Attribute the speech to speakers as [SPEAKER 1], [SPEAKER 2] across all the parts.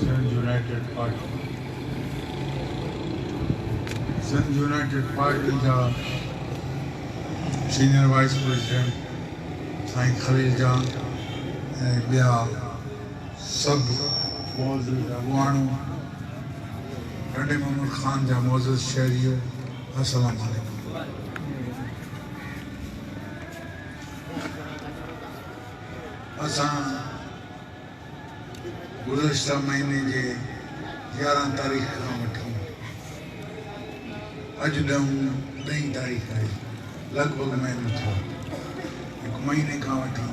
[SPEAKER 1] Sindh united party Sindh united party جا senior vice president سائين خليل جان ۽ ٻيا سڀ معزز اڳواڻو، ٽنڊي محمد خان جا معزز شهريو السلام عليڪم. اسان گذشته مهيني جي يارهن تاريخ کان وٺي اڄ ڏهون ڏهين تاريخ آهي لڳ ڀڳ مهينو ٿيو هڪ مهيني کان وٺي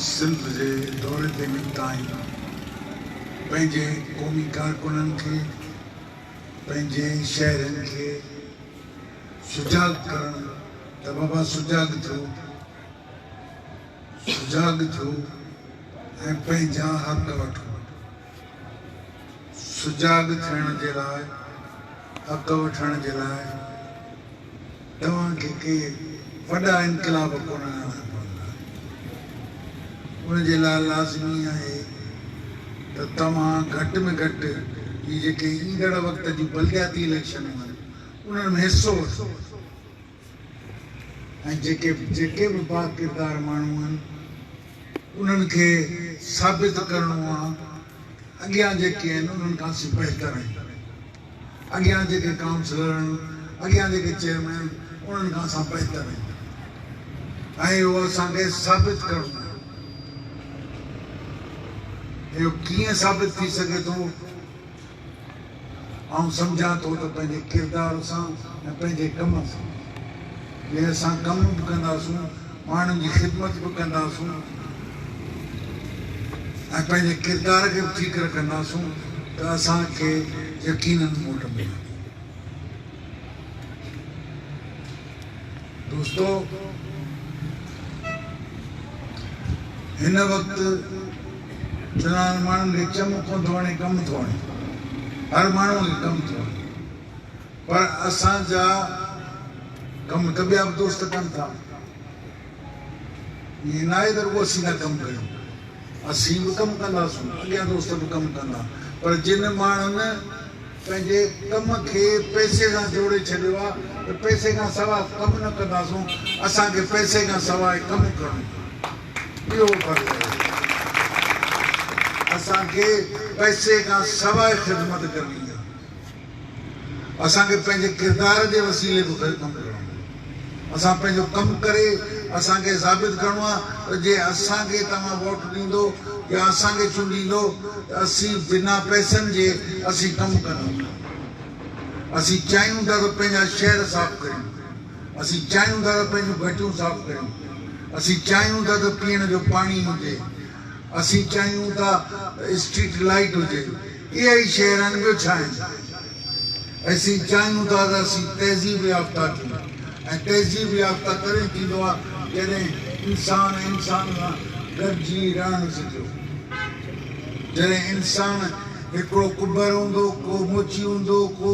[SPEAKER 1] سنڌ جي دوري تي نڪتا آهيون پنهنجي قومي ڪارڪنن کي پنهنجي شهرين کي سجاڳ ڪرڻ ته بابا سجاڳ ٿيو سجاڳ ٿيو ۽ پنهنجا حق وٺو سجاڳ ٿيڻ جي لاء حق وٺڻ جي لاء توهان کي ڪي وڏا انقلاب ڪونه آڻڻا پوندا ان جي لاء لازمي آهي ته توهان گهٽ ۾ گهٽ هي جيڪي ايندڙ وقت جون بلدياتي اليڪشنون آهن انهن ۾ حصو وٺندو ۽ جيڪي جيڪي به باڪردار ماڻهو آهن انهن کي ثابت ڪرڻو آهي اڳيان جيڪي آهن انهن کان اسين بهتر آهيون اڳيان جيڪي ڪائونسلر آهن اڳيان جيڪي چيئرمين آهن انهن کان اسان بهتر آهيون ۽ اهو اسان کي ثابت ڪرڻو آهي اهو ڪيئن ثابت ٿي سگهي ٿو آئون سمجهان ٿو ته پنهنجي ڪردار سان ۽ پنهنجي ڪم سان جي اسان ڪم به ڪنداسون، ماڻهن جي خدمت به ڪنداسون ۽ پنهنجي ڪردار کي به ٺيڪ رکنداسون ته اسان کي يقينن موٽ ملندي. دوستو هن وقت چنان ماڻهن کي چم ڪو ٿو وڻي ڪم ٿو وڻي هر ماڻهو کي ڪم ٿو وڻي پر اسان جا ڪم ته ٻيا به دوست ڪن ٿا ائين ناهي ته رڳو اسين ٿا ڪم ڪيون اسين به ڪم ڪنداسون، اڳيان دوست به ڪم ڪندا، پر جن ماڻهن پنهنجي ڪم کي پئسي سان جوڙي ڇڏيو آهي ته پئسي کان سواء ڪم نه ڪنداسون، اسان کي پئسي کان سواء ڪم ڪرڻو پوندو، اهو فرض آهي اسان کي پئسي کان سواء خدمت ڪرڻي آهي. اسان کي پنهنجي ڪردار جي وسيلي به ڪم ڪرڻو آهي. اسان پنهنجو ڪم ڪري اسان کي ثابت ڪرڻو آهي ته جي اسان کي توهان ووٽ ڏيندو يا اسان کي چونڊيندو ته اسين بنا پئسن جي اسين ڪم ڪندون ٿا. اسين چاهيون ٿا ته پنهنجا شهر صاف ڪريون. اسين چاهيون ٿا ته پنهنجون گهٽيون صاف ڪريون. اسين چاهيون ٿا ته پيئڻ جو پاڻي هجي. اسين چاهيون ٿا ته اسٽريٽ لائيٽ هجي. اهي ئي شهر آهن ٻيو ڇا آهن؟ اسين چاهيون ٿا ته اسين تهذيب يافته ٿيون ۽ تهذيب يافته تڏهن ٿيندو آهي جڏهن انسان انسان سان گڏجي رهڻ سکيو. جڏهن انسان هڪڙو ڪٻر هوندو، ڪو موچي هوندو، ڪو.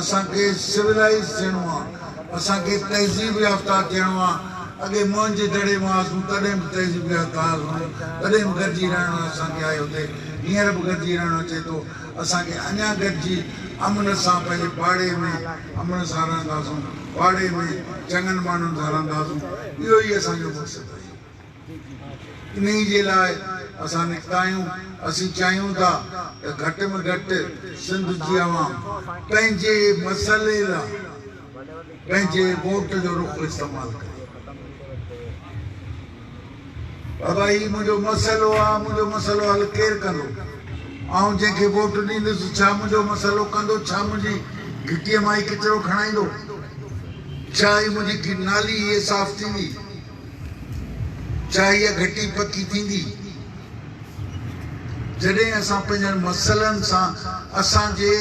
[SPEAKER 1] اسان کي سولائيز ٿيڻو آ اسان کي تهذيب يافته ٿيڻو آ اڳي موهن جي دڙي مان هئاسون تڏهن به تهذيب يافته هئاسون تڏهن به گڏجي رهڻ اسان کي آيو ٿي هينئر به گڏجي رهڻ اچي ٿو اسان کي اڃان گڏجي امن سان پنهنجي پاڙي ۾ امن سان رهنداسون پاڙي ۾ چڱن ماڻهن سان رهنداسون اهو ئي اسان جو مقصد آهي. انهيء جي لاء اسان نڪتا آهيون. اسين چاهيون ٿا ته گهٽ ۾ گهٽ سنڌ جي عوام پنهنجي مسئلي لاء پنهنجي ووٽ جو رخ استعمال ڪري. بابا هي منهنجو مسئلو آهي، منهنجو مسئلو حل ڪير ڪندو؟ آئون جنهن کي ووٽ ڏيندس ڇا منهنجو مسئلو ڪندو؟ ڇا منهنجي گهٽيء مان هي ڪچرو کڻائيندو؟ ڇا هي منهنجي نالي هي صاف ٿيندي؟ ڇا اها گهٽي پڪي ٿيندي؟ جڏهن اسان پنهنجن مسئلن سان اسان جي،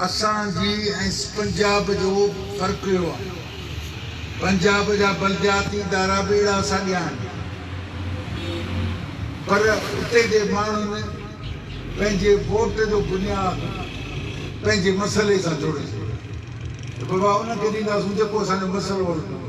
[SPEAKER 1] اسان جي ۽ پنجاب جو فرق اهو آهي پنجاب جا بلدياتي ادارا به اهڙا ساڳيا آهن پر اتي جي ماڻهن پنهنجي ووٽ جو بنياد پنهنجي مسئلي سان جوڙي ڇڏيو ته بابا ان کي ڏينداسون جيڪو اسان جو مسئلو حل ڪندو.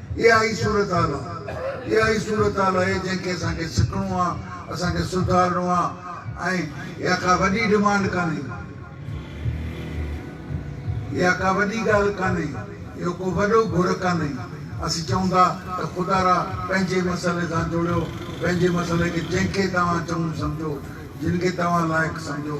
[SPEAKER 1] اها ئي صورتحال آ، اها ئي صورتحال آهي جنهن کي اسان کي سکڻو آ، اسان کي سڌارڻو آ ۽ اها ڪا وڏي ڊمانڊ ڪانهي، اها ڪا وڏي ڳالهه ڪانهي، اهو ڪو وڏو گهر ڪانهي، اسين چئون ٿا ته خدا را پنهنجي مسئلي سان جوڙيو، پنهنجي مسئلي کي جنهن کي توهان چڱو سمجهو، جن کي توهان لائق سمجهو،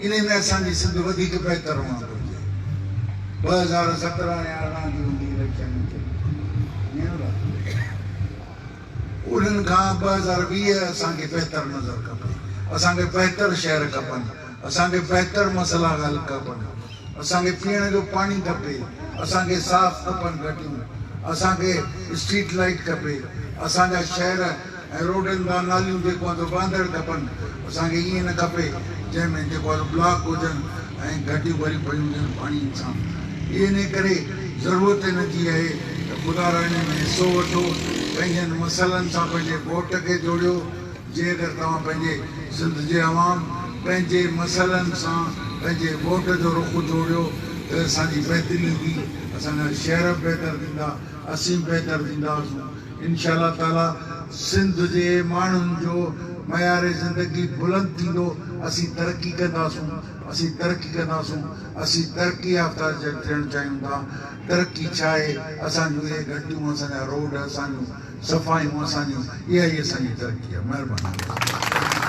[SPEAKER 1] انهي ۾ اسان جي سنڌ وڌيڪ بهتر هئڻ گهرجي. ٻه هزار سترهن ۽ ارڙهن جي هوندي اليڪشن ۾ چئي ڏينهن لاء انهن کان ٻه هزار ويهه اسان کي بهتر نظر کپي. اسان کي بهتر شهر کپن. اسان کي بهتر مسئلا حل کپن. اسان کي پيئڻ جو پاڻي کپي. اسان کي صاف کپن گهٽيون. اسان کي اسٽريٽ لائيٽ کپي. اسان جا شهر ۽ روڊن بان ناليون جيڪو آھن سو وھندڙ کپن اسان کي ائين نه کپي جنھن ۾ جيڪو آھي سو بلاڪ ھجن ۽ گھٽيون ڀريون پيون ھجن پاڻي سان اھي انھي ڪري ضرورت ان جي اھي ته خدا را انھي ۾ حصو وٺو پنھنجن مسئلن سان پنھنجي ووٽ کي جوڙيو جي اگر توھان پنھنجي سنڌ جي عوام پنھنجي مسئلن سان پنھنجي ووٽ جو رخ جوڙيو ته اسان جي بهتري ايندي اسان جا شھر بهتر ٿيندا اسين بهتر ٿينداسون. انشاء الله تعاليٰ سنڌ جي ماڻهن جو معيار زندگي بلند ٿيندو اسين ترقي ڪنداسون اسين ترقي ڪنداسون اسين ترقي يافته ٿيڻ چاهيون ٿا ترقي ڇا آهي اسان جون اهي گهٽيون اسان جا روڊ اسان جون صفايون اسان جون اها ئي اسان جي ترقي آهي مهرباني